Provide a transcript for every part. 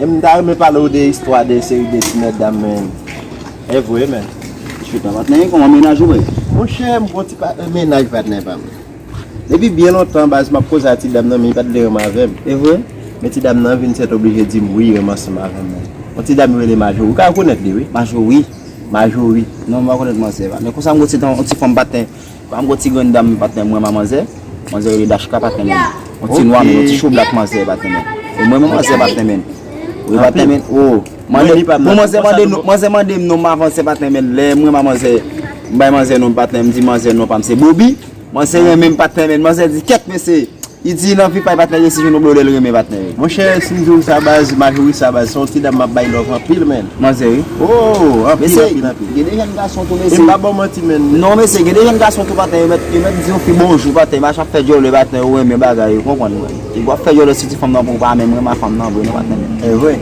M ta renmen pale w de istwa de seri de ti mètdam men evre men. Monchè patnè gen yon mennaj ou vre? Monchè m gen yon ti mennaj patnè pa m. Depi byen lontan baz m ap koze a ti dam nan men li pa t vle renmen avè m. Evre? Men ti dam nan vin sètoblije di m wi li renmen ansanm avè m men. Yon ti dam yo rele Majorie ou ka rekonèt li wi. Majorie? Majorie. Non m pa konèt manzè pa. Men konsa m gen yon ti fanm patnè. Banm gon ti grenn dam patnèm mwen ma manzè, manzè rele Dashka pat renmen li. Yon ti nwa men yon ti cho black manzè pat renmen. E mwen menm manzè pat renmen li. Li pat renmen li oo. Bon manzè mande non, manzè mandem non m avan se pat renmen li. Lè mwen ma manzè m bay manzè non patnèm m di manzè non pam se Bobi. Manzè renmen m pat renmen li. Manzè di kèt mesye. Li di lanvi pay patnèl resi jwenn yon blodèl renmen patnèl. Monchè sim diw sa baz Majorie sa baz se yon ti dam map bay love anpil menn. Manzè wi. Ooh anpil anpil anpil. Mesye gen de jèn gason tou mesye. Em pa baw manti menn. Non mesye gen de jèn gason tou patnè yo mèt yo mèt di yon fi bonjou patnè mache ap fè djòlè patnè ou renmen bagay ou konprann mwen. Epi wap fè djòlè sou ti fanm nan pouw pa menm renmen a fanm nan vre non patnè. Evre.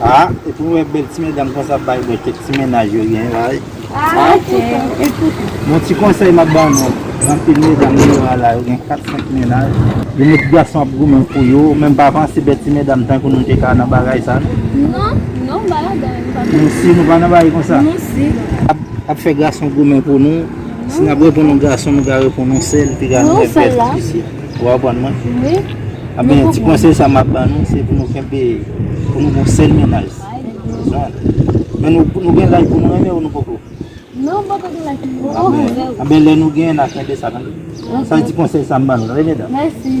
Ah epi nou wè bèl ti medam konsa ap bay bwè kèk ti mennaj yo gen la wi Ah ok Bon ti konsèy map ba nou anpil medam nou wè la yo gen 4, 5 mennaj Yo mèt gason ap goumen pou yo ou menm pa panse bèl ti medam tankou nou te ka nan bagay sa non Non ba ladan nou pa Nou si nou pa nan bagay konsa Nou si Ap fè gason goumen pou nou Si nap reponn yon gason nou ka reponn yon sèl epi ka nou wè bèl ti fi. Ou konprann mwen? Wi. Anben, ti konsèy sa map ban nou, se pou nou kenbe, pou nou gon sèl mennaj. Zan. Men nou gen laj pou nou renmen ou nou poko? Non, nou poko gen laj pou nou renmen ou. Anben, lè nou genyen, n a kenbe sa tande. Sa se ti konsèy sa m ban nou tande medam. Mèsi.